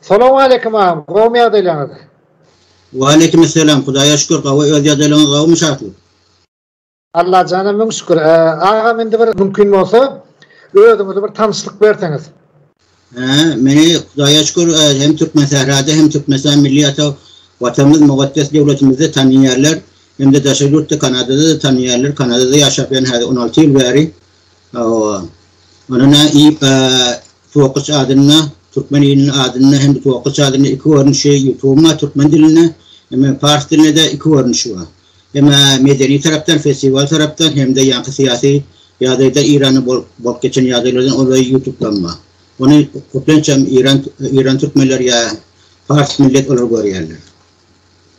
Salowmaleýkim agam gowmy ýagdaýlaryňyz. Waleýkim selam Hudaýa şükür gowy öz ýagdaýlaryňyz gowumy şatlyk. Allajana müň şükür agam indi bir mümkin bolsa özüňizi bir tanyşlyk berseňiz. Hä meni Hudaýa şükür hem Türkmen sährada hem Türkmenistan milli ata watanymyz mugeddes döwletimizde tanynýarlar hem-de daşary ýurtda Kanadada-da tanynýarlar Kanadada ýaşap ýörün häzir on alty ýyl bäri Hawa. Ony nä iýip Tokaç adynda, Türkmen iliniň adynda hem-de Tokaç adynda iki görnüşi ýutugyň bar türkmen dilinde, hem-de pars dilinde-de iki görnüşi bar. Hem medeni tarapdan, festiwal tarapdan hem-de ýaňky syýasy ýagdaýda Iranda bolup bolup geçen ýagdaýlardan ol we ýutubdan bar. Ony köplenç hem Iran Iran türkmenleri ýa pars millet olar görýärler.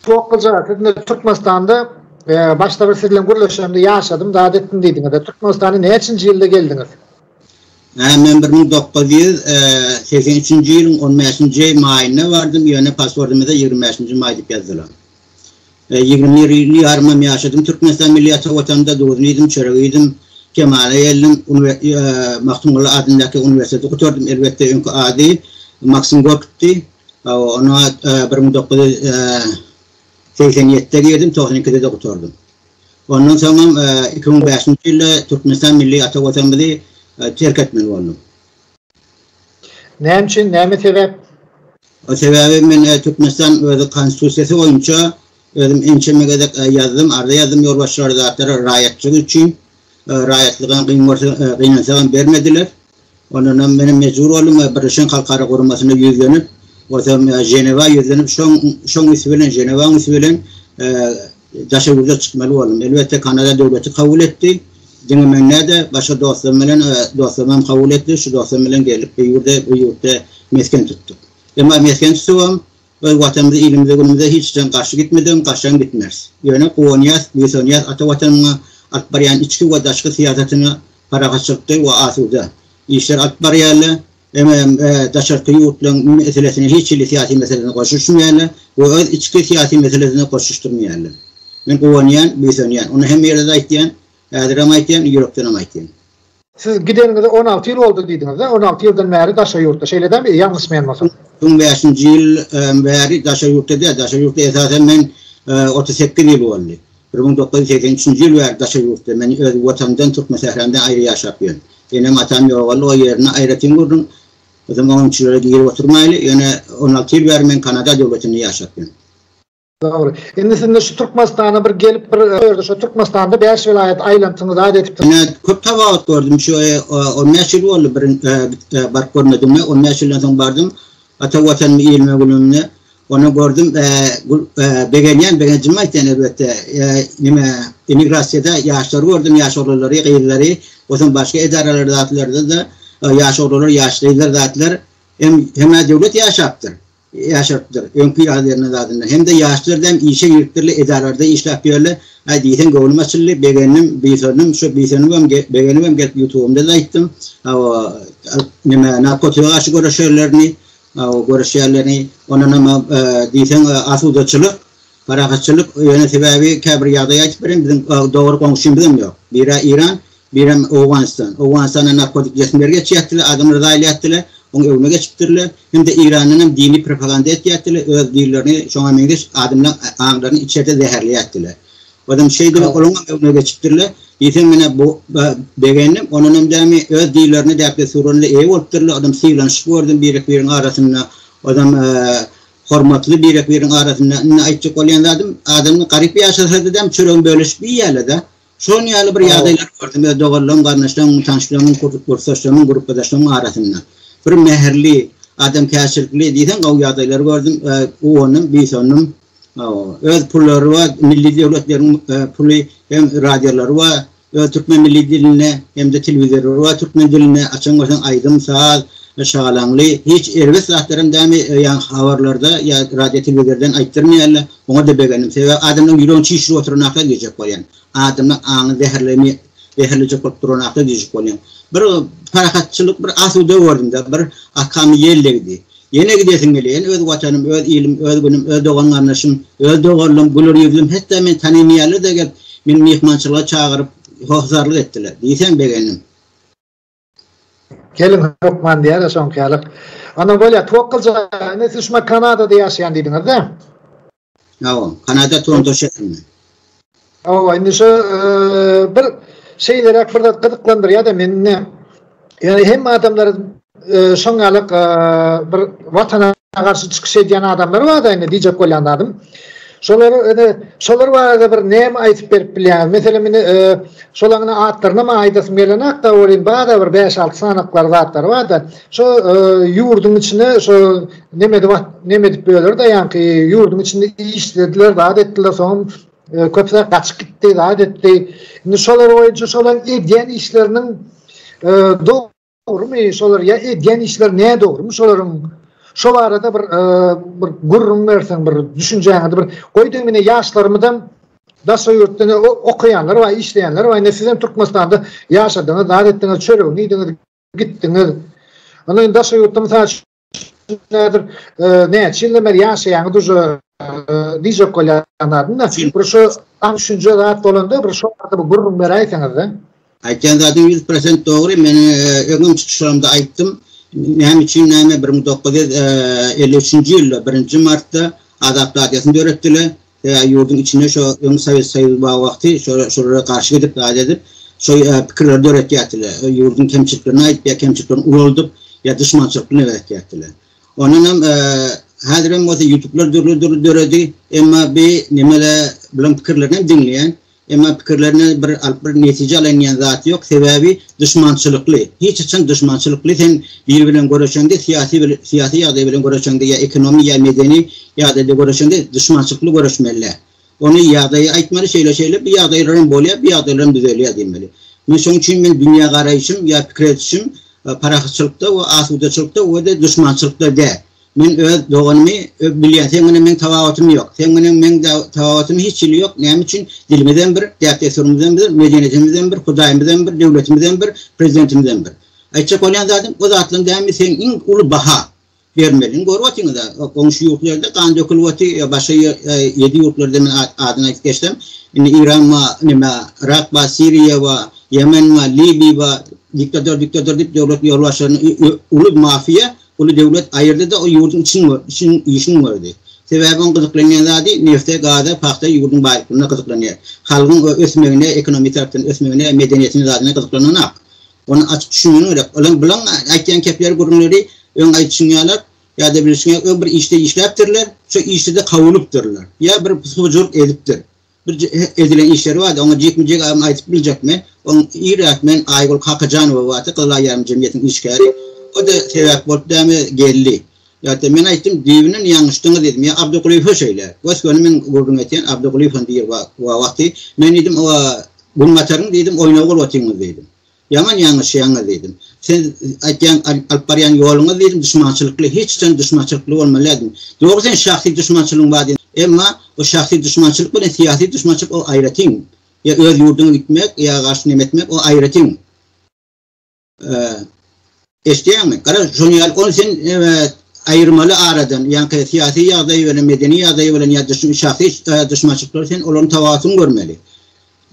Sokgaja siz Türkmenistanda başda bir siz bilen gürleşemde ýaşadym zat etdim diýdiňiz. Türkmenistana näçinji ýylda geldiňiz? Hä men bir müň dokuz ýüz segsen üçünji ýylyň on bäşinji maýynda bardym ýöne pasportymda ýigrimi bäşinji maý diýip ýazdylar. Ýigrimi bir ýyl ýarymam ýaşadym Türkmenistan milli ata watanda duzuny iýdim çöregi iýdim kemala geldim Magtymguly adyndaky uniwersiteti gutardym elbetde öňki ady Maksim Gorkitdi Ony bir müň dokuz ýüz segsen ýedide girdim, togsan ikide-de gutardym. Ondan soň hem iki müň bäşinji ýylda Türkmenistan milli ata Watanymyzy terk etmeli boldum. Näme üçin, näme sebäp? Sebäbi men Türkmenistan öz Konstitusiýasy boýunça özüm ençeme gezek ýazdym, arza ýazdym ýolbaşçylara, zatlara raýatçylyk üçin, Raýatlyga gyn görse, gynansagam bermediler. Ondanam menem mejbur boldum we Birleşen Halkara Guramasyna ýüzlenip, bolsam Ženewa ýüzlenip, şoň şoň üsti bilen, Ženewaň üsti bilen daşary ýurda çykmaly boldum. Elbetde, Kanada döwleti kabul etdi. Diňe men näde, başga dostlarym bilen, dostlarymam kabul etdi. Şu dostlarym bilen geldik, bu ýurda, bu ýurtda mesgen tutduk. Emma mesgen tutubam, Biz Watanymyza, ilimize, günümize hiç jan garşy gitmeden, garşam gitmeris. Ýöne guwanýas, buýsanýas ata Watanymyza alyp barýan içki we daşky syýasatyna parahatçylykda we asuda işler alyp barýarlar. Emma daşarky ýurtlaryň meselesine hiç hili syýasy meselesine goşuşmaýarlar we öz içki syýasy meselesine goşuşdyrmaýarlar. Men guwanýan, buýsanýan. Ony hemme ýerde-de aýtýan, häzirem aýtýan, ýürekdenem aýtýan. Siz gideniňize on alty ýyl boldy diýdiňiz-de, on alty ýyldan bäri daşary ýurtda, şeýle däl, ýalňyşmaýan bolsam? Soň bäşinji ýyl bäri daşary ýurtda däl, daşary ýurtda esasan men otuz sekiz ýyl boldy. Bir müň dokuz ýüz segsen üçünji ýyl bäri daşary ýurtda, men öz Watanymdan, Türkmensähramdan aýry ýaşap ýörün. Enem-atam ýogaldy, o ýerini aýratyn gördüm. Özem oň içilere girip oturmaýly, ýöne on alty ýyl bäri men Kanada döwletinde ýaşap ýörün. Dogry. Indi siz şu Türkmenistana bir gelip bir ýerde şu Türkmenistanda 5 welaýat aýlantyňyz aýt edip. Ine köp tawagut gördüm şu 15 ýyl boldy bir baryp görmedim we 15 ýyldan soň bardym. Ata watanym ilme gülümne. Onu gördüm e, e, begenýän begenjimi aýtýan elbetde. E, nime emigrasiýada ýaşlar gördüm, ýaş oglulary, gyzlary, osun başga edaralarda zatlarda da ýaş oglular, ýaş gyzlar zatlar hem hem döwlet ýaşapdyr. ýaşarypdyr, öňki ýaly berlen zadyndan. Hem-de ýaşlar däm işe giripdirler, edaralarda işläp ýörler. Aý, diýseň göwnüm açyldy, begendim, buýsandym, şu buýsanybam, begenibem gelip ýutubymda-da aýtdym. Hawa, alyp, näme, narkotika garşy göreşerlerini, hawa, göreşýärlerini, ondanam, diýseň, asudaçylyk, Parahatçylyk ýöne sebäbi käbir ýagdaý aýdyp bereýin biziň dogry goňşymyzam ýok. Biri Iran, birem Owganystan. Owganystanda narkotik jesmler geçýätdiler, adamlar zaýal ýätdiler, oň öňüne geçipdirler. Hem-de Irandan hem dini propaganda etýätdiler, öz dillerini şoňa meňzeş adamlaň aňlaryny içerde zäherleýätdiler. Ozem şeýdibem olaň hem öňüne geçipdirler. Diýseň menä bu begendim. Ondan hem dämi öz dillerini däp-dessurlaryna eýe bolupdyrlar. Ozem sylanyşyp gördüm birek-biregiň arasynda. Ozem Hormatly Birek biriň arasynda indi aýtjak bolýan zadym, adamlar garyp ýaşasadyzam çöregini bölüşip iýýärlerde. Şon ýaly bir ýagdaýlary gördüm öz doganlarym, garyndaşlarym, tanyşlarymyň, kursdaşlarymyň, grupbadaşlarymyň arasynda. Bir mähirli, adamkärçilikli diýseň gowy ýagdaýlary gördüm, guwandym, buýsandym. Hawa, öz pullary bar, milli döwletleriň puly hem radiolary bar, we türkmen milli dilinde hem-de telewizorda we türkmen dilinde açan bolsaň aýdym, saz, şagalaňly hiç erbet zatlaram dämi ýa-ni habarlarda ýa radio telewizordan aýtdyrmaýarlar. Oňada begendim. Sebäbi adamlaryň ýüregini çişirip oturanaka diýjek bolýan. Adamlaryň aňyny zäherlemä zäherlejek bolup duranaka diýjek bolýan. Bir parahatçylyk bir asuda gördümde bir akamy ýel degdi. Ýene gidesiň gelýän öz watanym öz ilim öz günüm öz dogan garndaşym öz doganlym güler ýüzlüm hetda meni tanaýmaýarlarda gelip meni myhmançylyga çagyryp hossarlyk etdiler diýseň begendim. Geliň hökman diýara şoňkalyk. Onam bolýa towakgalja indi siz şunda kanadada ýaşaýan diýdiňizda. Hawa, Kanada Toronto şäherinde. Hawa, indi şu bir şeylerak bir zat gyzyklandyrýar-da meni. Ýöne hem adamlar şoň ýaly bir watana garşy çykyş edýän adamlar bar-da indi diýjek bolýan zadym. Şolar indi şolar barada bir näme aýdyp berip bilýäňiz? Meselem indi şolaň atlaryny aýdasym gelenok-da, ol indi barada bir 5-6 sanaklary zatlar bar-da. Şo ýurduň içine şo nemedi wah nemedip böler da ýaňky ýurduň içinde işlediler zat etdiler soň köpler gaçyp gitdi zat etdi. Indi şolar boýunça şolar edýän işleriniň dogrumy şolar ýa edýän işler ne dogrumy şolaryň şo barada bir bir gürrüň berseň bir düşünjäňizi bir goý diýiň indi ýaşlarymyzam daşa ýurtdan okaýanlar bar işleýänler bar indi sizem türkmenistanda ýaşadyňyz zat etdiňiz çöregiňi iýdiňiz gitdiňiz. Onda indi daşary ýurtda mysal üçin nädir näçe ýyldan bäri ýaşaýaňyz uje diýjek bolýanlarynda bir şu aň düşünje zat bolanda bir şu barada bir gürrüň beräýseňizde. Aýtýan zadyň 100% dogry. Men öňem çykyşlarymda aýtdym. Näme üçin näme 1953-nji ýylda 1-nji martda Azat Radiýosyny döretdiler. Sebäbi ýurduň içinde şo öň Sowet Soýuzy bar wagty şo şolara garşy gidip zat edip şo pikirleri döretýärdiler. Ýurduň kemçiliklerini aýdyp ýa kemçiliklerini ulaldyp ýa duşmançylykly neber etýärdiler. Ondan hem häzir hem bolsa ýutublar dürli dürli döredi. Emma bi nimeler bilen pikirlerini hem diňleýän. Emma pikirlerine bir alyp bir netije alaýyn diýen zat ýok, sebäbi duşmançylykly, hiç haçan duşmançylykly sen biri bilen göreşeňde syýasy bir syýasy ýagdaý bilen göreşeňde ýa ekonomi ýa medeni ýagdaý bilen göreşeňde duşmançylykly göreşmelidä. Ony ýagdaýy aýtmaly şeýle şeýle bu ýagdaýlar hem bolýar bu ýagdaýlar hem düzelýär diýmeli. Men şoň üçin men dünýä garaýşym ýa pikir edişim parahatçylykda we asudaçylykda we-de duşmançylykda däl. Men öz doganymy bilýän, seň bilen meň tabagatym ýok. Seň bilen meň tabagatym hiç hili ýok. Näme üçin? Dilimizem bir, däp-dessurymyzam bir, medeniýetimizem bir, Hudaýymyzam bir, döwletimizem bir, prezidentimizem bir. Aýtjak bolýan zadym, o zatlaryň dämini seň iň uly baha bermeliň. Görüp otyňyz-a, goňşy ýurt ýerde gan dökülip oty, ýa başga ýedi ýurtlarda men adyny aýdyp geçsem, indi Iran bar, näme, Yrak bar, Siriýa bar, Ýemen bar, Libiýa bar, diktator, diktator diýip döwlet ýolbaşçylaryny uly mafiýa Uly döwlet aýyrdy-da o ýurduň için üçin işin gördi. Sebäbi oň gyzyklanýan zady nefte, gaza, pagta ýurduň baýlyklaryna gyzyklanýar. Halgyň o ösmegine, ekonomi tarapdan ösmegine, medeniýetine, zadyna gyzyklananok. Ony açyk düşünmegin gerek. Olaň bilaň aýtýan kepleri, gürrüňleri öň aýdyşyň ýalak ýa-da bilişiň ýalak öň bir işde işläpdirler, şo işde-de kowulypdyrlar. Ýa bir hujurk edipdir. Birje edilen işleri bardy, oňa jikme-jik aýyň aýdyp biljekmi? Oň irräk men Aýgül Kakajanowa bardy, Gyzyl aýýam jemgyýetiniň işgäri. O-da sebäp bolup dämi, geldi. Ýa-da men aýtdym, düýbünden ýalňyşdyňyz diýdim. Ýa Abdygulyýewe şeýle. Gös-göni men gürrüň etýän, Abdygulyýewem diýr wa wagty. Men diýdim, o-a Günbataryň diýdim, oýnawy bolup otyňyz diýdim. Ýaman ýalňyşýaňyz diýdim. Siz aýtýan alyp barýan ýoluňyz diýdim duşmançylykly, hiç haçan duşmançylykly bolmaly däldim. Dogry seň şahsy duşmançylygyň bar diýdim. Emma o şahsy duşmançylyk bilen syýasy duşmançylyk o aýratyn. Ýa öz ýurduňa gitmek, ýa garşy neme etmek o aýratyn. Eşdýäňmi? Gara, şony al, ony sen aýyrmaly aradan, ýaňky syýasy ýagdaýy bilen medeni ýagdaýy bilen ýa duşun şahsy duşmançylyklary sen olaryň tabawutyny görmeli.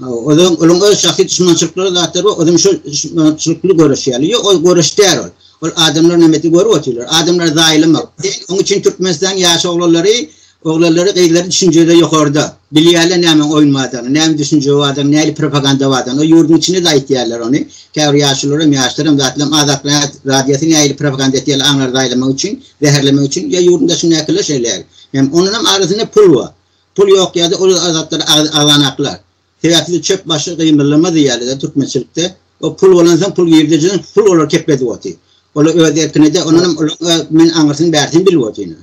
Olaryň olaryň öz şahsy duşmançylyklary zatlar bar, ozem şol duşmançylykly göreşýärler. Ýok, ol göreş däl ol. Ol adamlar näme etdi görüp otyrlar. Adamlary zaýalamak. Oň üçin Türkmenistanyň ýaş oglanlary Oglanlary gyzlary düşünjede ýokarda. Bilýärler nämäň oýun bardygyny, näme düşünje bardygyny, nähili propaganda bardygyny. Ol ýurduň içinde-de aýtýarlar ony. Käbir ýaşulularam, ýaşlaram zatlam Azatlyk rad radiosy nähili propaganda etýärler aňlary zaýlamak üçin, zäherlemek üçin. Ýa ýurduň daşyndakylar şeýleýär. Hem ondanam arasynda pul bar. Pul ýok ýerde ol Azatlary agy agzanaklar. Sebäpsiz çöp başy gymyldamaz diýýärler-de türkmençilikde. O pul bolansoň pul girdejiň pul olary kepledip otyr. Olar öz erkine-de ondanam olaryň men aňyrsyny bärsini bilip otyr ine.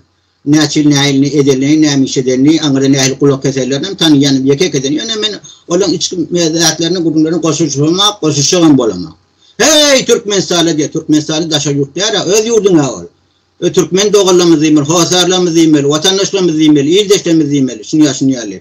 Näçe näilini edenini nämişedenini aňyrda nähili gulak keserlerini tanýan ýeke ekedim ýöne men olaň içki mezatlaryny gürrüňlerini goşuşamok goşuşjagam bolamok heý türkmenistana diýe türkmenistany daşary ýurt dälä öz ýurduň a ol e türkmen doganlarymyz diýmeli hossarlarymyz diýmeli watandaşlarymyz diýmeli ildeşlerimiz diýmeli şuny ýa şuny ýaly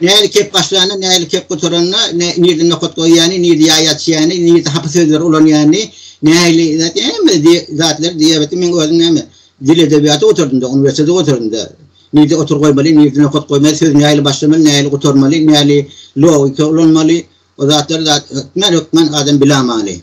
Näli kep başlany, näli kep gutarany, nirde nokat goýýany, nirde ýaý açýany, nirde hapa sözleri ulanýany, näli zat, hemme zatlar diabeti meň özüm näme, dil edebiýaty gutardym-da, uniwersiteti gutardym-da. Nirde otur goýmaly, nirde nokat goýmaly, söz näli başlamaly, näli gutarmaly, näli logika ulanmaly, o zatlary zat hökmän-hökmän adam bilamaly.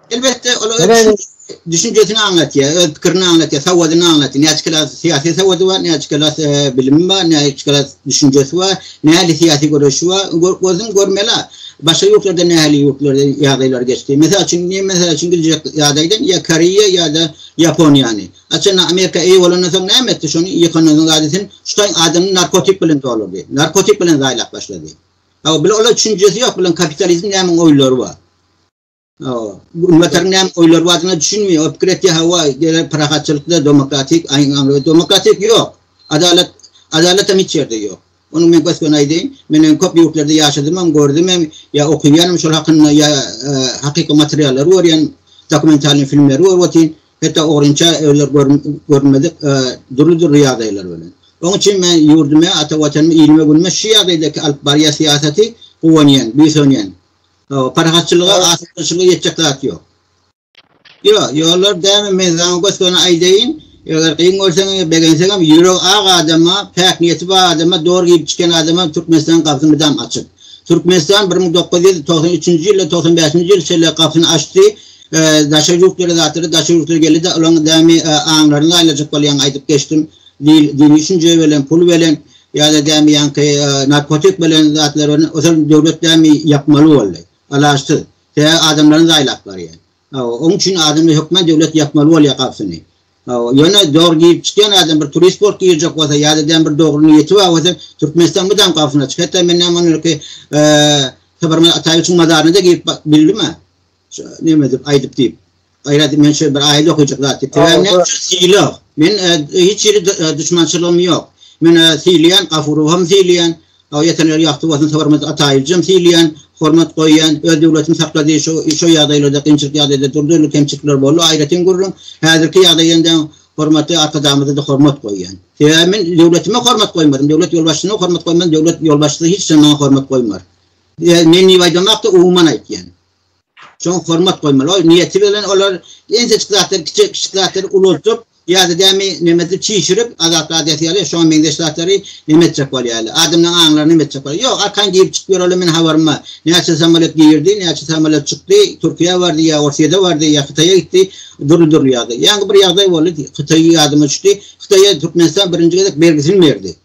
Elbetde, ol öz düşünjesini aňlatýar, öz pikirini aňlatýar, sawadyny aňlatýar. Näçe kala syýasy sawady bar, näçe kala e, bilimi bar, näçe kala düşünjesi bar, näli syýasy göreşi bar, gözüm görmeli. Başga ýurtlarda näli ýurtlarda ýagdaýlar geçdi. Mesela üçin, ne mesela üçin biljek ýagdaýdan ýa Koreýa ýa-da Ýaponiýany. Açan Amerika eý bolandan soň näme etdi? Şony ýykanyň gadysyny şutaň adamyny narkotik bilen dolurdy. Narkotik bilen zaýlap başlady. Ha, bilen olar düşünjesi ýok, bilen kapitalizm näme oýlary bar. Ümmetler näme oýlar wadyna düşünmeýär. O pikir etýär, hawa, gerek parahatçylykda demokratik aýňaňly demokratik ýok. Adalat, adalat hem hiç ýerde ýok. Ony men gös-göni aýdaýyn. Men hem köp ýurtlarda ýaşadym hem, gördüm hem, ýa okyýan hem şol hakynda ýa hakyky materiallary görýän, dokumentalnyý filmleri görüp otyryn. Hetta ogrynça özleri görünmedik dürli-dürli ýagdaýlar bilen. Oň üçin men ýurduma, ata Watanyma, ilime, günüme şu ýagdaýdaky alyp barýan syýasaty guwanýan, buýsanýan. O, parahatçylyga, asyklanyşyga ýetjek zat ýok. Ýo, ýollar däme, men saňa gös-göni aýdaýyn, eger gyn görseňem ýa begenseňem, ýüregi ak adama, päk niýeti bar adama, dogry giyip-içýän adama Türkmenistanyň gapysy mydam açyk. Türkmenistan bir müň dokuz ýüz togsan üçünji ýylda, togsan bäşinji ýyl şeýle gapysyny açdy, daşary ýurt ýöre zatlara daşary ýurtly geldi-de, olaryň dämi aňlaryny aýlajak bolýan aýdyp geçdim, dil, dini düşünje bilen, pul bilen, Ýa-da dämi ýaňky narkotik bolan zatlar bilen ozal döwlet dämi ýapmaly boldy. Alaçsyz. Sebäbi adamlaryň zaýlap barýar. Hawa, oň üçin adamlar hökman döwlet ýapmaly bolýar gapysyny. Hawa, ýöne zor girip çykýan adam bir turist bolup girjek bolsa ýa-da dämi bir dogry niýeti bar bolsa Türkmenistan mydam gapysyny açyk. Hatda men näme onurky Saparmyrat Ataýewiçiň mazaryna-da girip bak bildimä. Näme diýip aýdyp diýip. Gaýrat men şu bir aýat okajak zat diýip. Sebäbi näme üçin syla? Men e, hiç ýeri e, düşmançylygym ýok. Men e, sylaýan, Gafurow hem sylaýan. Aw ýetenler ýagty bolsun, hormat ataýylcam sylaýan, hormat goýýan, öz döwletini saklady, şu şu ýagdaýlarda, kynçylyk ýagdaýda durdy, kemçilikler boldy, aýratyn gürrüň. Häzirki ýagdaýynda hormatly arkadagymyza da hormat goýýan. Sebäbi men döwletime hormat goýmadym, döwlet ýolbaşçysyna hormat goýmadym, döwlet ýolbaşçysy hiç zat maňa hormat goýmar. E, men niýe aýdamakda umuman aýtýan. Şoňa hormat goýmaly. Ol niýeti bilen olar ençejik zatlary kiçi, kiçi zatlary ulaltyp, ýa-da dämi näme edip çişirip, azap radyýasiýa ýaly şoňa meňzeş zatlary näme etjek bolýarlar. Adamlaryň aňlaryny näme etjek bolýar. Ýok, arkan girip çykyp ýörerler meniň habarym bar. Näçe samalýot girdi, näçe samalýot çykdy, Türkiýä bardy ýa Orsýede bardy ýa Hytaýa gitdi, dürli-dürli ýagdaý. Ýaňky bir ýagdaý boldy, Hytaý ýadyma düşdi. Hytaýa Türkmenistan birinji gezek bergisini berdi.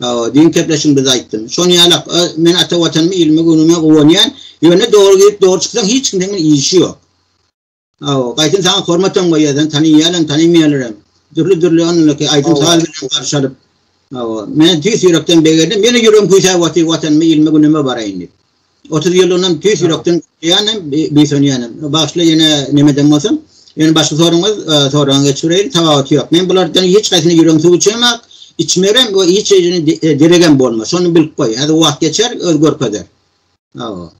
Hawa, düýn kepleşigimizde aýtdym. Şony ýalak, men ata Watanymy, ilimi, günümi guwanýan. Ýöne dogry girip, dogry çyksaň, hiç kimden men işi ýok. Hawa, gaýtam saňa hormatam goýýar, seni tanaýýarlam, tanaýmaýarlaram. Dürli-dürli onlaki aýdym-saz bilen garşy alyp. Hawa, men tüýs ýürekden begendim. Ýene ýüregim küýsäp otyr, Watanyma, ilime, günüme baraýyn diýip. 30 ýyl ondan tüýs ýürekden ýanym, büýsenýänim. Başda ýene nemeden bolsam, ýene başga soraňyz, soraňyz geçireýin, tawagat ýok. Men bulardan hiç haýsyny ýüregim suw içemok, içmerem we hiç ýerini deregem bolmaz. Şony bilip goý. Häzir wagt geçer, öz görkezer. Aw.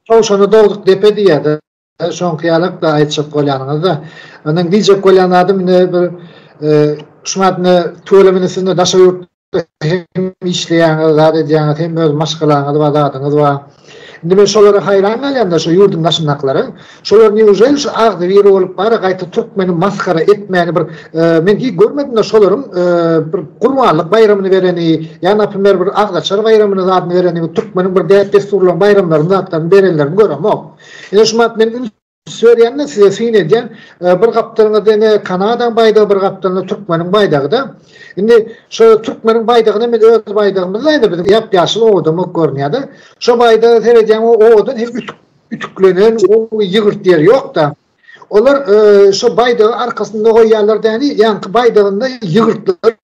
Towşana dogduk depe diýýärdi. Şoňky ýalak-da aýtjak bolýanyňyz-da. Ondan diýjek bolýan zadym indi bir şu wagt indi tüweleme indi siz daşary ýurtda hem işleýäňiz, zat edýäňiz, hem öz maşgalaňyz bar, zadyňyz bar. Indi men şolara haýran galýan-da, şu ýurduň daşyndakylara. Şolar newželi şu agzybir bolup bara gaýta türkmeni masgara etmäni bir men hiç görmedim-de şolaryň bir Gurbanlyk baýramyny bereni, ýa naprimer bir agzaçar baýramyny zadyny bereni, türkmeniň bir däp-dessurlaryny, baýramlaryny, zatlaryny berenlerini göremok. Ine şu wagt men üns berýän-de size syn edýän, bir gapdalyňyzda ine Kanadaň baýdagy, bir gapdalynda türkmeniň baýdagy-da. Indi şu türkmeniň baýdagyna men öz baýdagymyz-da indi biziň ýap-ýaşyl owadanok görünýär-de. Şo baýdaga seredýäň o owadan hem ütük ütüklenen gowy ýygyrt ýeri ýok-da. Olar şo baýdagy arkasynda goýýarlar däni, ýaňky baýdagynda ýygyrtlary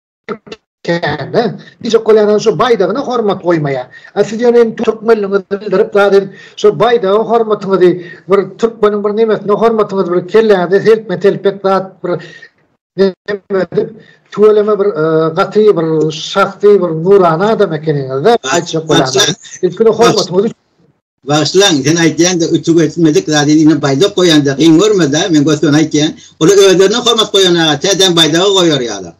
Käne, diýjek bolýanam şu baýdagyna hormat goýmaýa. A siz ýöne hem türkmenligiňizi bildirip zat edip, şu baýdaga hormatyňyzy, bir türkmeniň bir nemesine hormatyňyzy bir kelläňize selpme telpek zat bir neme edip, tüweleme bir e, gaty bir şahsy bir nurana adam ekeniňiz-de, aýtjak bolýanam. Ilkide hormatyňyzy Bagyşlaň, sen aýtýanda ütügi etmedik zady diýne baýdak goýanda gyn görmede, men götüne aýtýan. Olar özlerine hormat goýan aga, tä däm baýdaga goýar ýalar.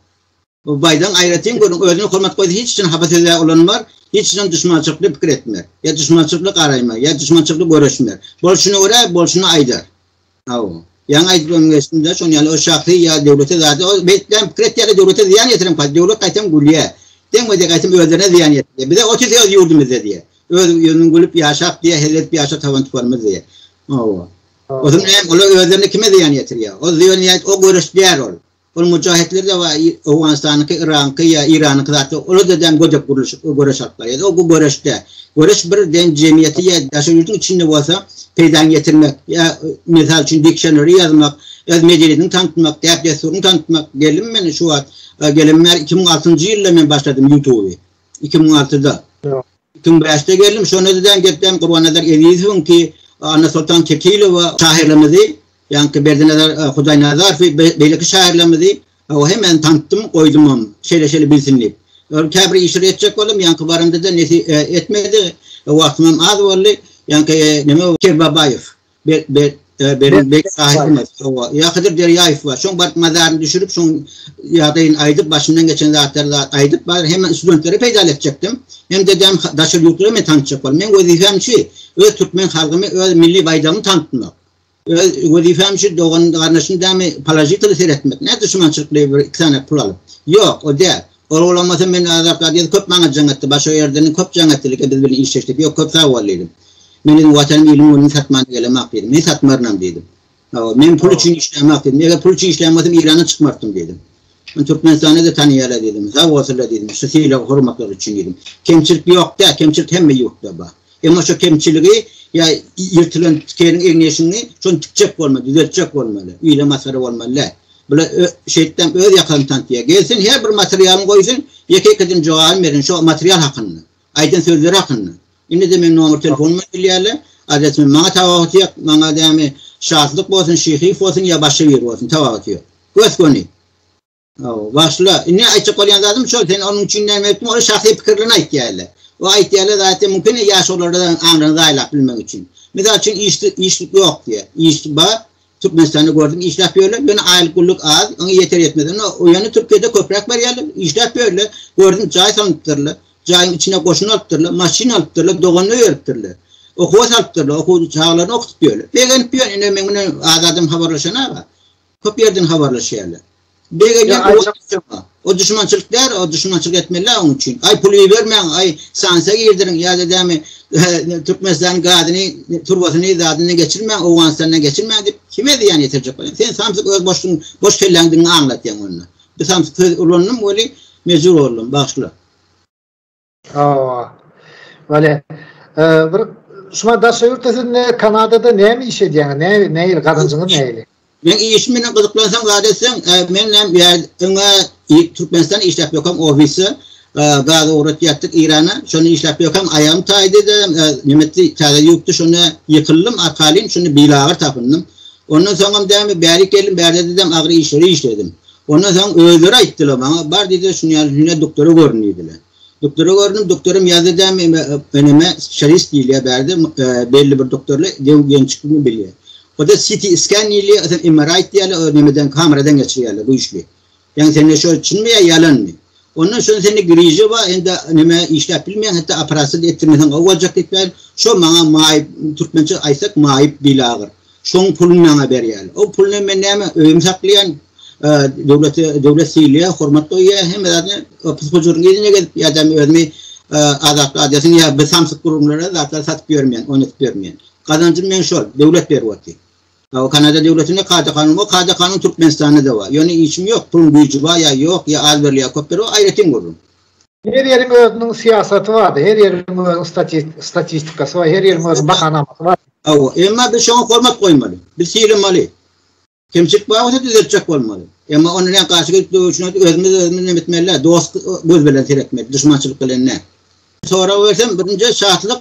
Bu baýdagyň aýratyn görüň, özüne hormat goýsa hiç üçin hapa söze ulanmar, hiç üçin duşmançylykly pikir etmer, ýa duşmançylykly garaýmar, ýa duşmançylykly göreşmer. Bolşuna görä, bolşuny aýdar. Hawa. Ýaňy aýdyp öň geçdim-de, şonuň ýaly ol şahsy ýa döwlete zady, ol beýtläň pikir etýärler, döwlete zyýan ýetiren pay, döwlet gaýtam gülýär. Deňmejek aýtsam özlerine zyýan ýetirýär. Bize ot ýese öz ýurdumyzda diýýär. Öz ýurduň gülüp ýaşap diýýär, hezil edip ýaşap taban tuparymyz diýýär. Hawa. Hawa. Olar özlerine kime zyýan ýetirýär? Ol zyýan ýa o göreşýär ol. Ol müjahitler de bar, Owganystanyňky, Yragyňky ýa Iranyňky zat ýok. Olar-da däl gödek gurluşyk, göreş alyp barýar. O bu göreş däl. Göreş bir den jemgyýeti ýa daşary ýurduň içinde bolsa peýdaňy ýetirmek ýa mysal üçin diksionary ýazmak, öz medeniýetiňi tantytmak, däp-dessuryňy tantytmak. Geldim men şu wagt, gelemem bäri iki müň altynjy ýylda men başladym ýutuby. Iki müň altyda. Tüňbäşde geldim, şonda düzän geplerim Gurbannazar Ezizowyň ki, Annasoltan Kekilowa şahyrlarymyzy, ýaňky Berdinazar Hudaýnazarowy, beýleki şahyrlarymyzy o hemmäni tantytdym, goýdumam, şeýle-şeýle bilsin diýip. Ol käbir işleri etjek boldum, ýaňky baramda-da nesip etmedi, wagtymam az boldy. Ýaňky neme Kerbabaýew, Be, be, e, benim bek sahibimiz. Owa. Ya Hızır Derýaýew bar. Şoň baryp mazaryny düşürip, şoň ýagdaýyny aýdyp, başyndan geçen zatlary da aýdyp, bar hemen studentlere peýdaly etjekdim. Hem de däm daşary ýurtlara men tanşjak bol. Men wezipem şu, öz türkmen halkymy, öz milli baýdagymy tanıtmak. Öz wezipem şu dogan garnaşyny dämi položiteli seretmek. Ne düşmançylykly bir iki sany pul alyp. Ýok, o däl. Ol bolmasa men Azat Gadyýew köp maňa jaň etdi, başga ýerden köp jaň etdilik, biz bilen işleşdik. Ýok, köp sag bol diýdim. Men özüm Watanym, ilimin gülüni satmana gelemak diýdim. Men satmarynam diýdim. Hawa, men pul üçin işleýämak diýdim. Eger pul üçin işleýän bolsam Eýrana çykmartdym diýdim. Ony Türkmenistanda-da tanaýarlar diýdim. Sag bolsunlar diýdim. Şu sylag, hormatlar üçin diýdim. Kemçilik ýok däl, kemçilik hemme ýurtda bar. Emma şo kemçiligi ýa ýyrtylan tikeniň egni-eşigini şony tikjek bolmaly, düzeltjek bolmaly. Üýle masgara bolmaly däl. Bula şeýtdäm öz ýakagyny tantyýa. Gelsin her bir materialyny goýsun, ýeke-ýekeden jogabyny berin şo material hakynda, aýdan sözleri hakynda. Indi-de meň nomer telefonuma gelýärler, adresimi maňa tabahaty ýok, maňa dämi Şatlyk bolsun, Şyhyýew bolsun ýa başga biri bolsun tabahaty ýok. Gös-göni. Hawa, başla. Indi aýtjak bolýan zadym şol, sen onuň üçin näme etdiň, ol şahsy pikirini aýtýarlar. O aýtýarlar zatda mümkin ýaş olarda aňryny zaýalap bilmek üçin. Mysal üçin iş iş ýok diýýär. Iş bar. Türkmenistanda gördüm işläp ýörler. Ýöne aýlyk gulluk az, oňa ýeter ýetmez. Ýöne o ýöne Türkiýede köpräk berýärler, işläp ýörler. Gördüm jaý salnypdyrlar. Jaýyň içine goşun alypdyrlar, maşyn alypdyrlar, doganlyk beripdirler. Okuwa salypdyrlar, okuw çagalaryny okutyp ýörler. Begenip ýör, indi men bilen Azadym habarlaşan aga. Köp ýerden habarlaşýarlar. Begenýän ýa-da O düşmançylyk däl, o düşmançylyk etmeli onuň üçin. Aý pul ibermäň, aý sanksiýa girdiriň ýa-da dämi Türkmenistanyň gazyny, turbasyny, zadyny geçirmäň, Owganystandan geçirmäň diýip, kime zyýan ýetirjek bolýar? Sen samsyk öz boşlugyň, boş kelläňdigini aňlatýaň onda. Bir samsyk söz ulandym weli, mejbur boldum, bagyşla. Hawa. Wale. Bir şuma daşa ýurtda siz ne Kanadada näme iş edýäňiz? Ne näil gazanjyňyz näil? Men iş bilen gyzyklansaň zat etseň, men hem öňe Türkmenistan işläp ýökem ofisde gaz ugratýardyk Irana. Şony işläp ýökem aýagym taýdyda, nimetdi täze ýupdy şony ýykyldym arkaýyn, şony bilagyr tapyndym. Ondan soňam dämi bärik geldim, bärde didem agyr işleri işledim. Ondan soň özleri aýtdylar maňa, bar diýdiler, şuny ýaly hünär doktora görün diýdiler. Doktora göründim, doktoram ýazdy dämi, öneme spesialist diýilýär bärde, belli bir doktorlar röntgençikmi bilýär. O-da CT scan diýilýär, öten MRI aýtýarlar, o nämeden, kameradan geçirýärler güýçli. Ýaňy sende şo çynmy ýa ýalanmy? Ondan soň sende griža bar, indi näme işläp bilmeýäň, hatda operasiýa-da etdirmeseň gowy boljak diýipler. Şo maňa maýyp, türkmençe aýtsak maýyp bil agyr. Şoň puluny maňa berýär. O puly bilen men näme öýümi saklaýan, döwlete döwlet sylaýar, hormat goýýar, hemme zadyny pysp-pyjyryň yzyna gezip ýa-da özümi Azatlyk adýasyn ýa bir samsyk gürrüňlere zatlar satyp ýörmeýän, oýnadyp ýörmeýän. Gazanjym meň şol, döwlet berip otyr. Hawa Kanada döwletinde kada kanun bar, kada kanun Türkmenistandada bar. Ýöne işim ýok, puluň güýji bar ýa ýok, ýa az berilýär ýa köp berilýär ol aýratyn gürrüň. Her ýeriň özüniň syýasaty barda, her ýeriň özüniň statistikasy bar, her ýeriň özüniň bahanamasy bar. Hawa, emma biz şoňa hormat goýmaly, biz sylamaly. Kemçilik bar bolsa düzeltjek bolmaly. Emma onda näme garşy gelip döwüşmeli, özümiz özümizi näme etmeli däl, dost göz bilen seretmeli, duşmançylyk bilen däl. Sorag bersem, birinji şatlyk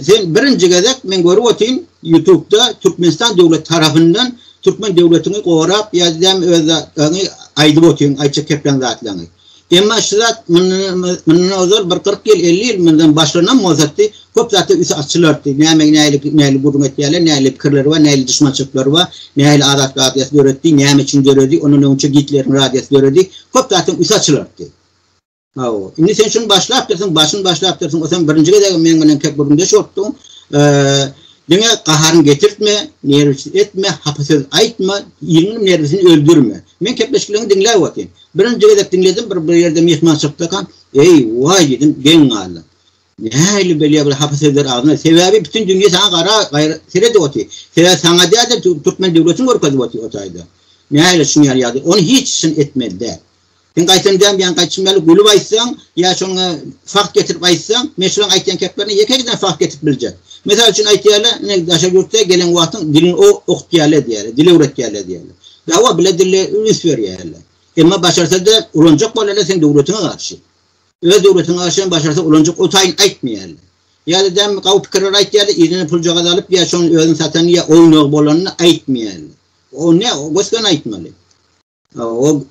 Sen birinji gezek men görüp otyryn ýutubda Türkmenistan döwleti tarapyndan Türkmen döwletiňi gorap ýa däm öz zatlaryňy aýdyp otyryn aýtjak kepleň zatlaryňy. Emma şu zat mundan ozal bir kyrk ýyl elli ýyl mundan başlanam bolsady köp zatlar üsti açylardy näme nälik näli gürrüň etýärler näli pikirleri bar näli duşmançylyklary bar näli azatlyk radiýasy döredi näme üçin döredi ondan öňçe Gitleriň radiýasy döredi köp zatlaryň üsti açylardy. Hawa. Indi sen şuny başlapdyrsyň, başyny başlapdyrsyň. O sen birinji gezegem meň bilen kep gürründeş bolupdyň. Diňe gaharyňy getirtme, nerwsiz etme, hapa söz aýtma, iriňiň nerwisini öldürme. Men kepleşikleňi diňläp otyryn. Birinji gezek diňledim, bir bir ýerde myhmançylykdakam, eý, waý diýdim, geň galdym. Nähili belýär bu hapa sözler agzyna? Sebäbi bütin dünýä saňa gara, gaýra seredip otyr. Sebäbi saňa däl-de türkmen döwletini görkezip otyr o taýda. Nähili şuňa ýaly ýagdaý? Ony hiç şun etmeli däl. Sen gaýtam däm diýen gaýçym ýaly gülüp aýtsaň, ýa şoňa fakt getirip aýtsaň, men şulaň aýtýan keplerine ýeke-ekeden fakt getirip biljek. Mysal üçin aýtýarlar, ine daşary ýurtda gelen wagtyň dilini okutýarlar diýýärler, dil öwretýärler diýýärler. Dawa bile dille üns berýärler. Emma başarsa-da ulanjak bolarlar seň döwletiňe garşy. Öz döwletiňe garşy hem başarsa ulanjak o taýyn aýtmaýarlar. Ýa-da däm gawy pikirler aýtýarlar, yzyna puljagaz alyp ýa şonuň özüni satanyny ýa oýnagy bolanyny aýtmaýarlar. O ne, gös-göni aýtmaly. O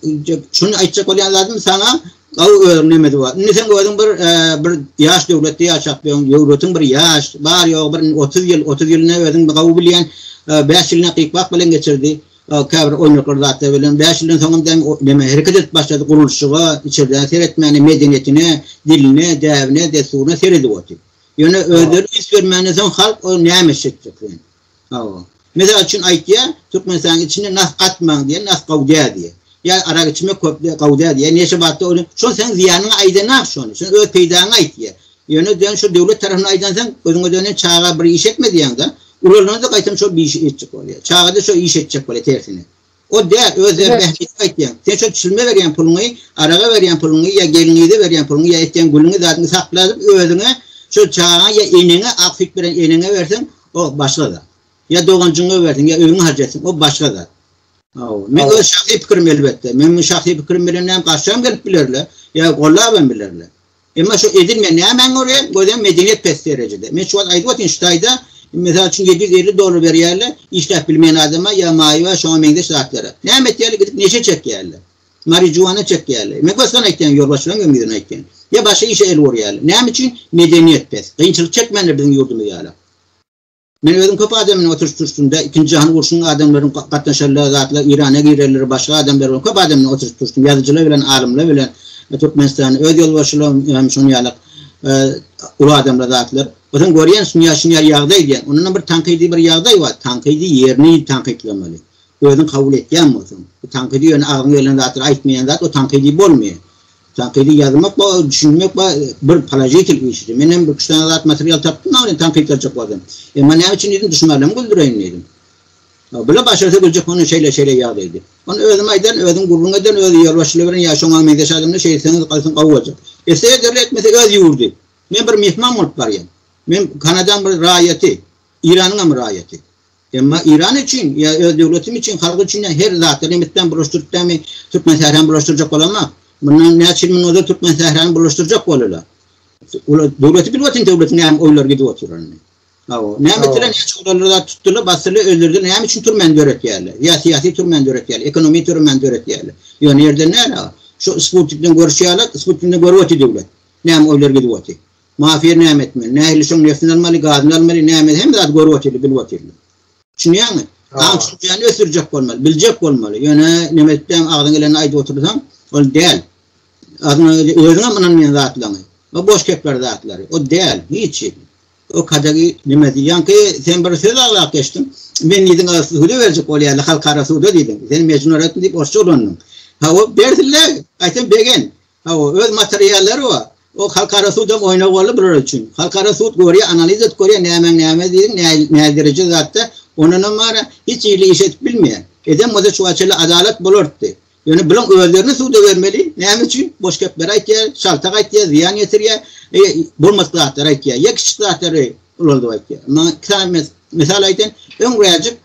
şun aýtjak bolýan zadym saňa gaw öwrünemedi bar. Indi sen özüň bir e, bir ýaş döwletde ýaşap ýöň, ýöwretiň bir ýaş, bar ýogy bir 30 ýyl, 30 ýylyny özüň gaw bilýän, 5 e, ýylyny gypbak bilen geçirdi. E, käbir oýnaklar zatlar bilen 5 ýyldan soň hem näme hereket edip başlady gurluşyga, içerden seretmäne, medeniýetine, diline, däbine, dessuryna seredip otyr. Ýöne özleri üns bermäne soň halk o näme etjek? Hawa. Mysal üçin aýtýar, Türkmenistanyň içinde nah gatmaň diýýär, nah gowy däl diýýär. Ýa arak içmek köp däl, gowy däl diýýär. Neşe batda ony, şol seniň zyýanyňa aýdan nah şony. Sen öz peýdaňy aýt diýýär. Ýöne diýen şu döwlet tarapyndan aýdansoň, özüňe dönen çaga bir iş etme diýýäň-de, ulalanda gaýtam şol bir işi etjek bolýar. Çaga-da şo işi etjek bolýar tersine. O dä öz erbähbitini aýtýaň. Sen şol çilme berýän puluňy, araga berýän puluňy ýa gelniňize berýän puluňy ýa etýän gülüňi zadyňy sakladyp özüňe şol çagaňa ýa eneňe ak süýt beren eneňe berseň o başga zat. Ýa doganjyňňa berseň ýa öýüňi harç etseň o başga zat. Hawa. Men öz şahsy pikirim elbetde. Men bu şahsy pikirim bilen näm garşam gelip bilerler. Ýa gollabam bilerler. Emma şu edilmeýän nämäň görä, gözem medeniýet pes derejede. Men şu wagt aýdyp otyryn şu taýda, mysal üçin, ýedi ýüz elli dollar berýärler işläp bilmeýän adama ýa maýa we şoňa meňzeş zatlara. Näme etýärler, gidip neşe çekýärler. Marijuana çekýärler. Men gysgan aýtýan, ýolbaşçylaryň hem ýüzüne aýtýan. Ýa başga işe el urýarlar. Näme üçin? Medeniýet pes. Kynçylyk çekmänler biziň ýurdumyz ýaly. Men özüm köp adam bilen oturyş turşdumda ikinji jahan urşunyň adamlaryň gatnaşarlar zatlar irana girerler başga adamlar bilen köp adam bilen oturyş turşdum ýazyjylar bilen alymlar bilen türkmenistany öz ýolbaşçylar hem şony ýalak uly adamlar zatlar Ozan görýän şunyar şunyar ýagdaý diýen. Ondan bir tankydy bir ýagdaý bar. Tankydy ýerini tankytlamaly. Özüň kabul etýän bolsaň. Bu tankydy ýöne agzyňa gelen zatlar aýtmaýan zat o tankydy bolmaýar. Tankydy ýazmak we düşünmek we bir položitel işidi. Men hem iki-üç sany zat material tapdym dagy indi tankyt ýazjak bolsam. Emma näme üçin diýdim duşmalarym güldireýin diýdim. Bile başarsa güljek onda şeýle şeýle ýaz diýdi. Onda özüm aýdan, özüm gürrüň eden, özü ýolbaşçylyk eden ýa şoňa meňzeş adamlar şeýle etseňiz aýtsaň gowy boljak. Etse ederli etmese öz ýurdy. Men bir myhman bolup barýan. Men Kanadaň bir raýaty. Iranyňam raýaty. Emma Iran üçin ýa öz döwletim üçin, halk üçin her zat, Remitden bulaşdyrypdamy, Türkmensährany bulaşdyrjak bolanok. Mundan näçe ýyl munozal Türkmensährany bulaşdyrjak boldular. Olar döwleti bilip otyny döwletiň näme oýlar gidip oturanyny. Hawa, näme etdiler, näçe olar zat tutdular, basdylar, öldürdiler, näme üçin türmäni döretýärler? Ýa syýasy türmäni döretýärler, ekonomi türmäni döretýärler. Ýöne ýerden näle? Şu Sputnikden görüşýärler, Sputnikden görüp otyr döwlet. Näme oýlar gidip otyr. Mafiýa näme etmeli? Nähili şoň neftini almaly, gazyny almaly, näme hemme zady görüp otyrly, bilip otyrly. Düşünýäňmi? Aň düşünjäni ösdürjek bolmaly, biljek bolmaly. Ýöne näme etseň agzyňa geleni aýdyp otursaň, ol däl. Azyňa gelýän özüňem ynanmaýan zatlaryňy. Bu boş kepler zatlary. O däl, hiç hili. O kadagy näme diýýänki, sen bir söz aglap geçdiň. Men diýdiň, suda berjek bolýarlar, halkara suda diýdiň. Sen mejnun öretdiň diýip orsça ulandyň. Ha o bersinler, gaýtam begen. Hawa, öz materiallary bar. O halkara sudam oýna boldy bular üçin. Halkara sud görýär, analiz edip görýär, nämäň näme diýdiň, näzdiriji zatda. Ondanam bara hiç ýerli iş edip bilmeýär. Eden bolsa şuwagt şeýle adalat bolardy. Ýöne bulaň özlerini suda bermeli. Näme üçin? Boş gepler aýtýar, şaltak aýtýar, zyýan ýetirýär, bolmadyk zatlary aýtýar. Ýa kiçi zatlary ulanyp aýtýar. Maňa iki sany Mysal aýtyn, öň wäjip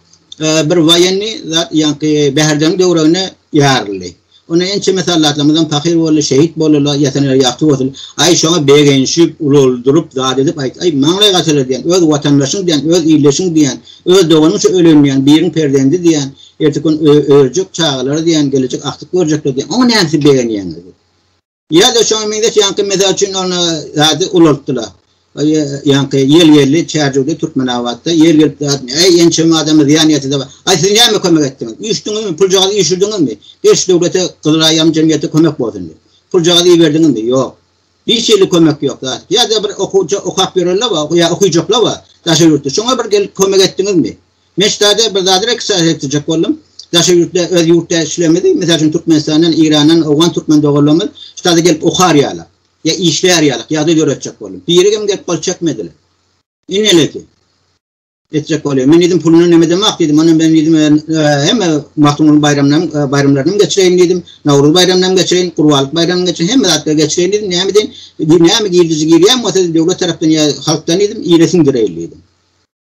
bir waýenni zat ýaňky Bäherden döwregine ýaryldy. Onda ençeme sallatlarymyzam pahyr boldy, şehit boldylar, ýatanýeri ýagty bolsun. Aý şoňa begenşip, ulaldyryp zat edip aýt. Aý maňlaý gaçylar diýen, öz watandaşyň diýen, öz ildeşiň diýen, öz doganyň şu ölen diýen, biriň perzendi diýen, erteki gün örjek çagalary diýen, gelejek agtyk görjekler diýen. Oňa näme siz begenýäňiz? Ýa-da şoňa meňzeş ýaňky mysal üçin ol zady ulaltdylar. Ýaňky ýel geldi, Çärjewde, Türkmenabatda ýel gelip zatmy? Äý, ençeme adama zyýan ýetdi-de bar. Aý, siz näme kömek etdiňiz? Üýşdüňizmi? Puljagazy üýşürdiňizmi? Beş döwlete, Gyzyl Aýam jemgyýete kömek bolsun diýip. Puljagazy iberdiňizmi? Ýok. Hiç hili kömek ýok zat. Ýa-da bir okuwça okap ýörenler bar, ýa okujaklar bar daşary ýurtda. Şoňa bir gelip kömek etdiňizmi? Meşgada bir zady registrasiýa etdirjek boldum. Daşary ýurtda öz ýurtdaşlarymyzy, mysal üçin Türkmenistandan, Eýrandan, owgan türkmen doganlarymyz ştada gelip okar ýaly, ýa işlär ýaly ýagdaý döretjek boldum. Biri hem gelip gol çekmediler. Indi näleýsin? Etjek bolýar. Men diýdim puluna näme demek diýdim. Ondan men diýdim hemme Magtymguly baýramlaryny baýramlaryny hem geçireýin diýdim. Nowruz baýramyny hem geçireýin, Gurbanlyk baýramyny geçireýin, hemme zatlary geçireýin diýdim. Näme diýin? Näme girdiji girýän bolsa döwlet tarapdan ýa halkdan diýdim, ýere siňdireýin diýdim.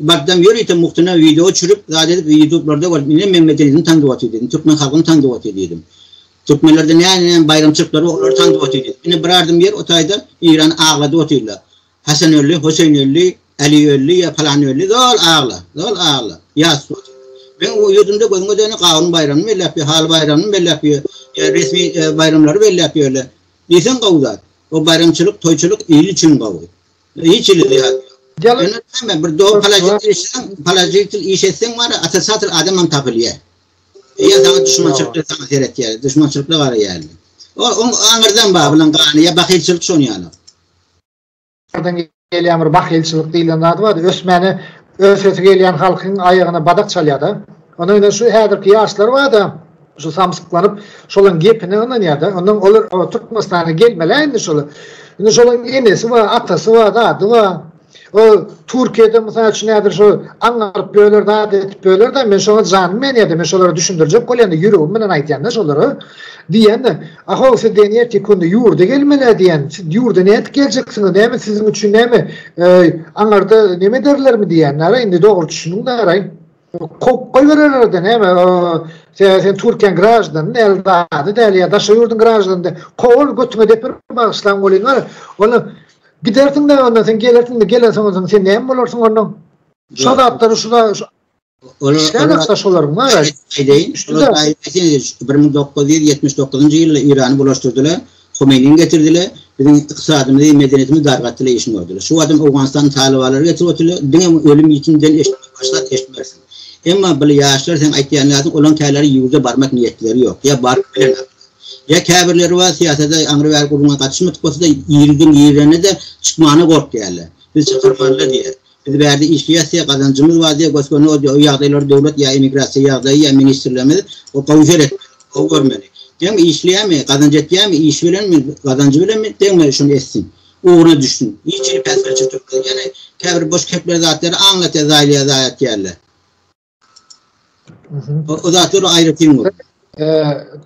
Bardan ýörite muhtyna wideo çürüp zat edip ýutublarda görüp ine men medeniýetiň taňrybaty diýdim türkmen halkyň taňrybaty diýdim türkmenlerde näne näme baýramçylyklary bar olary taňrybaty diýdim ine bir ardym ýer o taýda ýyrany agladyp otyrlar hasan öldi hoseýin öldi äli öldi ýa palan öldi zol agla zol agla ýas bu meň bu ýurdumda gözüňe degeni gawun baýramyny belläp ýör haly baýramyny belläp ýör ýa resmi baýramlary belläp ýörler diýseň gowy zat o baýramçylyk toýçylyk il üçin gowy Hiç ili diýýär. Ýöne näme bir dogry palajitil işleseň, palajitil iş etseň bar, otricatill adam hem tapylýar. Eýer saňa duşmançylyk saňa seretýär, duşmançylykly garaýar. O oň aňyrdan bar bilen gany ýa bahylçylyk şony ýaly. Aňyrdan gelýän bir bahylçylyk diýlen zat bar, ösmäne ösesi gelýän halkyň aýagyna badak çalýar-da. Ony şu häzirki ýaşlar bar-da, Şol samsyklanyp, şolaň gepine ynanýar-da. Ondan olar Türkmenistana gelmeli-ä indi şolar. Indi şolaň enesi bar, atasy bar, zady bar. O Türkiýede mysal üçin häzir şo aňňaryp ýörler, zat edip ýörler-de, men şoňa janym menýär-de, men şolara düşündirjek bolýan-da, ýüregim bilen aýdýan-da şolara. Diýýän-de, Ahow, siz diýen ertir künde ýurda gelmeli-ä diýýän. Siz ýurda nädip geljeksiňiz, näme siziň üçin näme, aňarda neme ederlermi diýýän-de, ara, indi dogry düşüniň-de, ara. Kop goý bererlerde näme sen sen Türkiýäň graždany näl zady däl ýa daşary ýurduň graždany däl. Kowul götüňe depir bagyşlaň bolýan bar. Ol gidersiň näme ondan sen gelersiň de gelen soň ondan sen näme bolarsyň ondan. Şu zatlary şu da şu. Ol şeýle şolaryň bar. Şeýle. Şeýle. 1979-njy ýylda Irany bulaşdyrdylar. Homeiniň getirdiler, biziň ykdysadymyzy, medeniýetimizi dargatdylar, işini gördüler. Şu wagtam Owganystanyň talybalary getirip otyrylar, diňe ölüm ýitim den eşitmek başga eşitmersiň. Emma bly ýaşlar seň aýtýan ýalyň olaň käleri ýurda barmak niýetleri ýok, ýa baryp bilenok. Ýa käbirleri bar syýasada aňry bäri gürrüňe gatyşmadyk bolsada ýigridiň ýigrenede çykmana gorkýarlar. Biz çykarmalyda diýýär. Biz bärde işleýäs diýýär, gazanjymyz bar diýýär, gös-göni o ýagdaýlary döwlet ýa immigrasiýa ýagdaýy ýa ministrligimiz o gowy seretmeli, gowy görmeli. Deňme işleýärmi, gazanç etýärmi, işi bilenmi, gazanjy bilenmi, deňme şuny etsin, ugryna düşsün. Hiç hili päsgelçilik çykmaz. Ýöne käbir boş kepler zatlary aňňata zaýlaýa zaýa etýärler. O zatlar aýratyn bolup.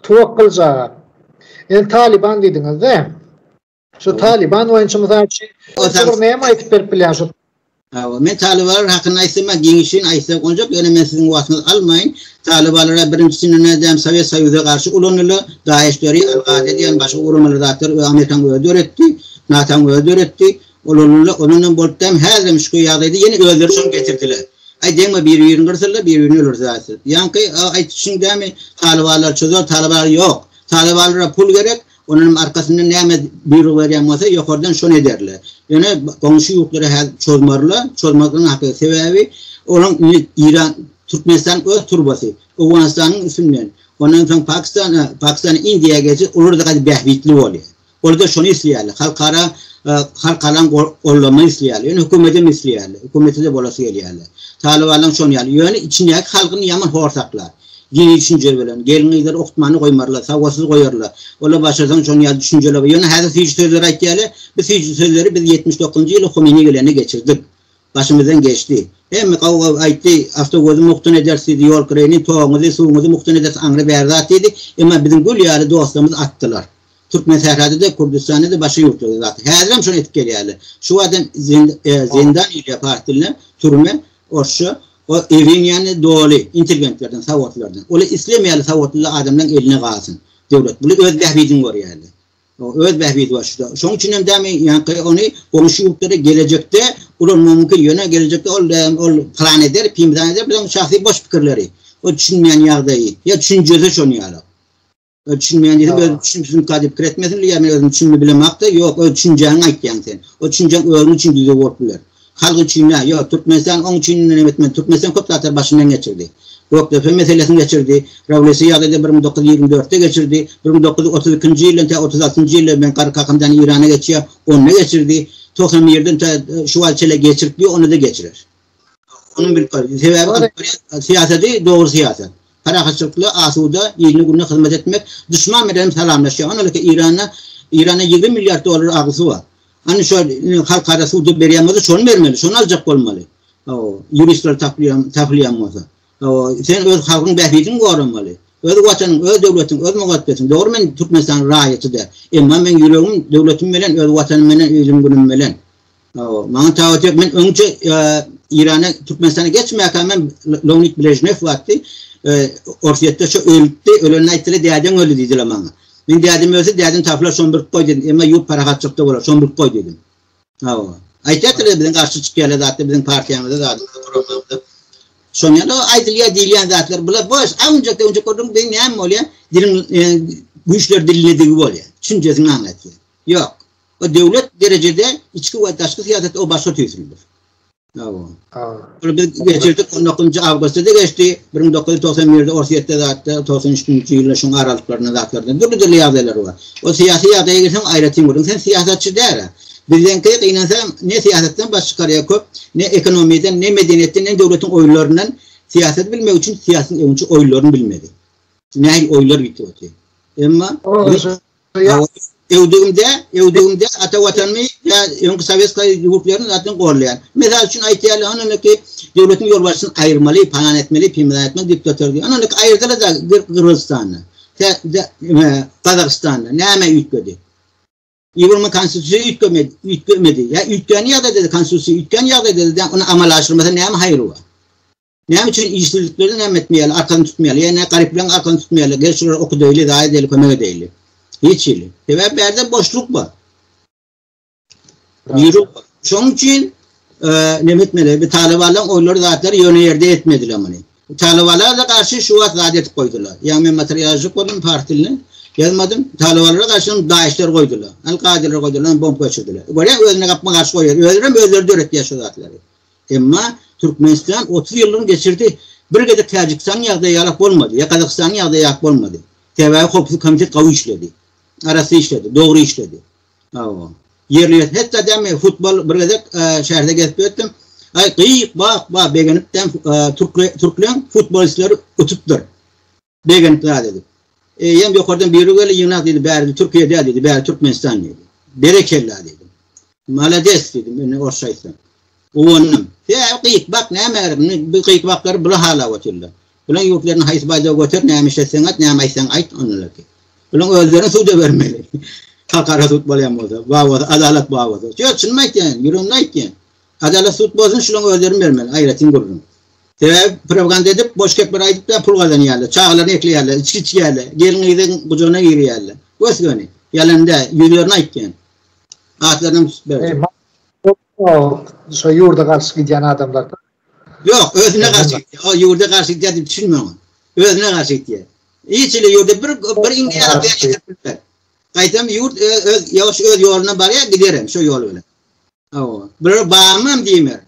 Tuwakgyljy aga. Indi Talyban diýdiňiz-de. Şu Taliban boýunça mysal üçin, şu bir näme aýdyp berip bilýär şu? Hawa, men Talibanlar hakynda aýtsam, giňişin aýtsa boljak, ýöne men siziň wagtyňyzy almaýyn. Talibanlara birinjisini nädäm Sowet Soýuzyna garşy ulandylar, DAEŞ-leri, Al-Gaýda diýen başga guramaly zatlar we Amerikanyň özi döretdi, NATO-nyň özi döretdi. Ulandylar, ondan hem bolup däm, häzir hem şu ýagdaýda ýene özleri şony getirdiler. Aý deňme bir-birini gyrsalar, bir-birini öldürse aýtsa. Ýaňky aýdyşyň dämi Talibanlar çözer, Talibanlar ýok. Talibanlara pul gerek, Onuňam arkasyndan näme buýruk berýän bolsa, ýokardan şony ederler. Ýöne goňşy ýurtlara häzir çozmarlar, çozmaklygyň hakyky sebäbi olaň indi Iran, Türkmenistan öz turbasy, Owganystanyň üstünden, ondan soň Pakistan, Pakistan Indiýa geçip, olarda gaty bähbitli bolýar. Olarda şony isleýärler, halkara, halkara gollama isleýärler, ýöne hökümetem isleýärler, hökümetede bolasy gelýärler. Talybanlaň şony ýaly, ýöne içindäki halkyny ýaman hor saklar. Dini düşünje bilen. Gelin-gyzlar okutmany goýmarlar, sawatsyz goýarlar. Olar başarsaň şonuň ýaly düşünjeli bol. Ýöne häzir süýji sözleri aýtýarlar. Bu süýji sözleri biz ýetmiş dokuzynjy ýyly Homeini gelende geçirdik. Başymyzdan geçdi. Hemme gaw-gaw aýtdy, awtoguzy mukdan ederis diýdi, ýol kireýini, toguňyzy, suwuňyzy mukdan ederis, aňry bäri zat diýdi. Emma biziň gül ýaly dostlarymyz atdylar. Türkmensährada-da, Kürdüstanda-da, başga ýurtlarda-da atdy. Häzirem şony edip gelýärler. Şu wagtam zindan diýilýär pars dilinde, türme. Orsça, O ewiň ýany doly intelgentlerden, sawatlylardan. Ola islemeýärler sawatly adamlaryň eline galsyn döwlet. Bular öz bähbidini görýärler. O öz bähbidi bar şuda. Şonuň üçin hem dämi ýaňky ony goňşy ýurtlara gelejekde ulanmagy mümkin. Ýöne gelejekde ol dämi ol plan eder, pimdan eder. Biziň şahsy boş pikirleri. O düşünmeýän ýagdaýy. Ýa düşünjesi şony ýaly. Öz düşünmeýän diýsem, öz düşünmedigiň kady pikir etmesin diýýär, men özüm düşünmedi bilemokda, ýok, öz düşünjäňi aýtýaň sen. O düşünjäň özüň üçin düzüw bolup biler. Halk üçin däl, ýok, Türkmenistan oň üçin näme etmeli, Türkmenistan köp zatlary başyndan geçirdi. Gökdepe meselesini geçirdi, rewolýusiýa ýagdaýda bir müň dokuz ýüz ýigrimi dörtde geçirdi, bir müň dokuz ýüz otuz ikinji ýyldan tä otuz altynjy ýyla, men Garry Kakamdan Eýrana geçýär, onda geçirdi, togsan birden tä şu wagtça geçirip ýör, onda-da geçirer. Onuň bilip bar. Sebäbi syýasaty dogry syýasat. Parahatçylykly, asuda, ilini gününe hyzmat etmek. Duşman bilen salamlaşýar. Ony ki Irana Irana 20 milliard dollar agysy bar. Ony şo halkara suwda berýän bolsa şony bermeli. Şony aljak bolmaly. Hawa, ýuristler tapylýan, tapylýan bolsa. Hawa, sen öz halkyň bähbidini goramaly. Öz watanyň, öz döwletiň, öz mugaddesiň. Dogry men Türkmenistanyň raýaty däl. Emma meň ýüregim döwletim bilen, öz watanym bilen, ilim günüm bilen. Hawa, maňa tabat ýok. Men öňçe Irana, Türkmenistana geçmäkä men Leonid Brejnew wagty Orsýetde şu ölüpdi, ölenini aýtdylar, dädeň öldi diýdiler maňa. Men dädem ölse, dädem tapylar, şony bilip goý diýdim. Emma ýurt parahatçylykda bolar, şony bilip goý diýdim. Hawa. Aýtýardylar biziň garşy çykýarlar zatda, biziň partiýamyza zat, programmamyza. Şony ýa-da aýdylýar, diýilýän zatlar bular boş. Aňjakda öňje gördüm, beýni näme bolýar? Diliň güýçler dilinedigi bolýar. Çünjesini aňlatýar. Ýok. O döwlet derejede içki we daşky syýasat o başga tüýsülidir. Awa. Awa. Biz geçirdik 19-njy awgustda da geçdi. 1991-de Orsýetde zatda 93-nji ýylda şuň aralyklarynda zatlarda dürli dürli ýagdaýlar bar. O syýasy ýagdaýa gelseň aýratyn görüň. Sen syýasatçy däl-ä. Bizdenki gynansaň ne syýasatdan baş çykarýar köp, ne ekonomiýadan, ne medeniýetden, ne döwletiň oýlaryndan. Syýasat bilmek üçin syýasyň öňçi oýlaryny bilmeli. Nähili oýlar gitip otyr. Emma Öwdügimde, öwdügimde ata watanymy we öňki sowetskiý ýurtlaryny zaten gollaýan. Mysal üçin aýtýarlar, ony indi ki, döwletiň ýolbaşçysyny aýyrmaly, palan etmeli, pimlan etmeli, diktator diýip. Ony indi aýyrdylar-da Gyrgyzystanda. Gazagystanda näme üýtgedi? Ýewropa konstitusiýa üýtgemedi, üýtgemedi. Ýa üýtgän ýagdaýda-da konstitusiýa üýtgän ýagdaýda-da ony amala aşyrmasa näme haýry bar? Näme üçin işsizliklerden näme etmeýärler, arkasyny tutmaýarlar? Ýa-da garyplaryň arkasyny tutmaýarlar, gel şulara okudaýly, zaýa edeýli, kömek edeýli? Hiç hili. Sebäbi bärde boşluk bar. Ýuruk bar. Şonuň üçin näme etmeli? Bu talybalan oýlary zatlary ýöne ýerde etmediler muny. Talybalara da garşy şu wagt zat edip goýdular. Ýa men materialçyk boldum pars dilini. Ýazmadym. Talybalara garşy daýyşlar goýdular. Al-Kaideler goýdular, bomb geçirdiler. Görýä özüne gapma garşy goýýar. Özlerem özleri döretýär şu zatlary. Emma Türkmenistan otuz ýyllygyny geçirdi, bir gezek Täjikistanyň ýagdaýy ýalak bolmady, ýa Gazagystanyň ýagdaýy ýalak bolmady. Sebäbi Howpsuzlyk komiteti gawy işledi. Arassa işledi, dogry işledi. Hawa. Ýerine ýetirdi. Hetda dämi futbol bir gezek şäherde gezip ýötdüm. Aý, gyýk, bak, ba, begenipdem türkle, türkleň futbolistleri utupdyr. Begenip zat edip. Eýýäm ýokardan biri geldi, Ýygnak diýdi, bärde Türkiýe däl diýdi, bäri Türkmenistan diýdi. Berekella diýdim. Malades diýdim, indi orsça aýtsam. Guwandym. Sebäbi gyýyk bak näme gerek, indi bu gyýyk baklary bula halap otyrlar. Bulaň ýurtlaryna haýsy baýdagy göter, näme işletseň et, näme aýtsaň aýt, onlarky. Bulaň özlerini suda bermeli. Halkara sud bolýan bolsa, bar bolsa, adalat bar bolsa. Ýok, çynymy aýtýan, ýüregimde aýtýan. Adalat sud bolsun şulaň özlerin bermeli aýratyn gürrüň. Sebäbi piroganda edip boş gepler aýdyp da pul gazanýarlar, çagalaryny ekleýärler, içgi içýärler, gelin gyzyň gujagyna girýärler. Gös göni. Ýalan däl, ýüzlerini aýtýan. Atlaryny hem tutup berjek. Şo ýurda garşy gidýän adamlar. Ýok, özüne garşy gitýär. O ýurda garşy gitýär diýip düşünme oňa. Özüne garşy gitýär. Hiç hili ýurda bir bir indiýa atlýan getirip bilmez. Gaýtam ýurt öz ýoş öz ýoluna barýar, giderem şo ýol bilen. Hawa. Bular barmam diýmer.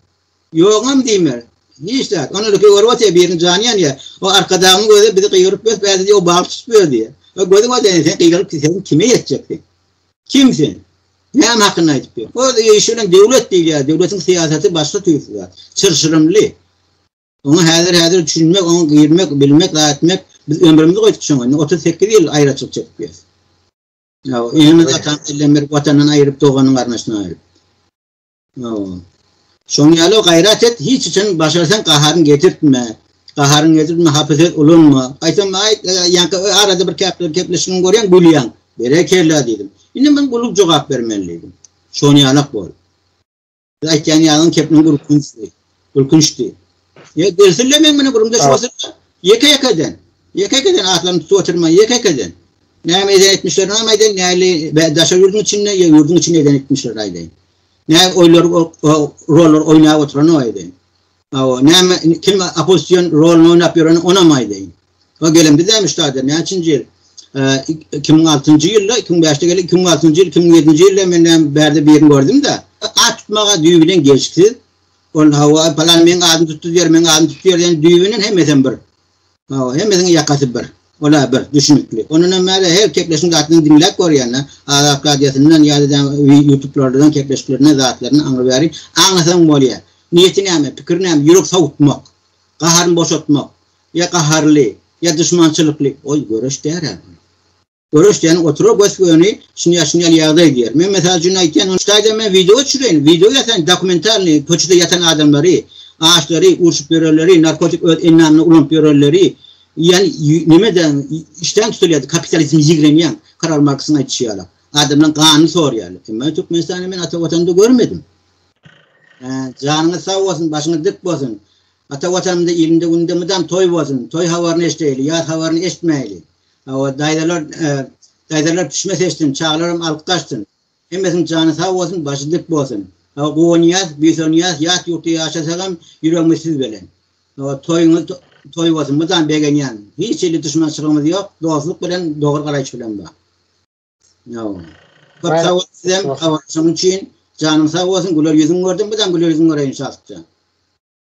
Ýogam diýmer. Hiç zat. Ony öki görüp otyr, biriniň jany ýanýar. O arkadagyň gözi bizi gygyryp bes bädi diýip, o bagyş tutup ber diýer. O gözi görse indi sen gygyryp sen kime ýetjek sen? Kim sen? Näme hakynda aýdyp ýör? Öz işi bilen döwlet diýýär. Döwletiň syýasaty başga tüýs zat. Çyrşyrymly. Oňa häzir häzir düşünmek, oňa girmek, bilmek, zat etmek biz ömrümizi goýduk şoňa. Indi otuz sekiz ýyl aýraçylyk çekip ýörüs. Ýa, ýene gatan dilden berip, watandan aýryp, doganyň garnaşyny aýryp. Ýa. Şoň ýaly gaýrat et, hiç üçin başarsaň gaharyny getirtme. Gaharyny getirtme, hapy söz ulanma. Aýtsam, aý, ýa-da arada bir käpler gepleşigiňi görýäň, gülýäň. Berekella diýdim. Indi men gülüp jogap bermeli diýdim. Şoň ýalak bol. Siz aýtýan ýagyň kepiniň gürkünçdi. Gürkünçdi. Ýa gelsille men muny gürümde şu oturma. Ýeke-ýeke eden. Ýeke-ýeke eden atlaryny tutup oturma. Ýeke-ýeke eden. Näme eden etmişlerini hem aýdaýyn. Näli daşa ýurduň içinde ýa ýurduň içinde eden etmişleri aýdaýyn. Näme oýlar rollar oýnap oturany aýdaýyn. Awa näme kim opozisiýon roluny oýnap ýöreni onam aýdaýyn. O gelen biz hem ştada näçinji ýyl? 2006-njy ýylda, 2005-de gelen, 2006-njy ýyl, 2007-nji ýylda men hem bärde birini gördüm-de, at tutmaga düýbi bilen gelşiksiz. Ol hawa, palan meniň adymy tutdy diýer, meniň adymy tutdy diýer, ýöne düýbi bilen hemmesem bir. Hawa, hemmesiniň ýakasy bir. Ola bir düşünikli. Ondan hem bäri her kepleşiň zatlaryny diňläp görýände, Azatlyk Radiosyndan ýa-da YouTube-lardan kepleşiklerine zatlaryny aňry bäri aňlasaň bolýar. Niýeti näme, pikiri näme, ýürek sowutmak, gaharyny boşatmak. Ýa gaharly, ýa duşmançylykly, ol göreş däl-ä bu. Göreş diýeni oturar gös-göni şinýal-şinýal ýagdaý diýer. Men mysal üçin aýtýan, ony ştaýdan men wideo düşüreýin, wideo ýasaýyn, dokumentalnyý, köçede ýatan adamlary, açlary, urşup ýörenleri, narkotik öz endamyna ulanyp ýörenleri, ýan neme-de işdäm tutulýardy, kapitalizmi ýigrenýän, Karl Marksyň aýdyşy ýaly, adamdan ganyny sorýarlar. Emma Türkmenistany men ata Watanda görmedim. Janyňyz sag bolsun, başyňyz dik bolsun. Ata Watanymda ilinde günde mydam toý bolsun, toý habaryny eşdeýli, ýas habaryny eşitmäýli. Hawa, daýzalar, daýzalar pişme seçsin, çagalaram alyp gaçsyn. Hemmesiniň jany sag bolsun, başy dik bolsun. Hawa, guwanýas, buýsanýas, ýat ýurtda ýaşasagam ýüregimiz siz bilen. Hawa, toýuňyz toý bolsun, mydam begenýän. Hiç hili duşmançylygymyz ýok, dostluk bilen, dogry garaýyş bilen bar. Hawa. Köp sag boluň sizem, habarlaşygyň üçin. Janyň sag bolsun, güler ýüzüňi gördüm, mydam güler ýüzüňi göreýin şatja.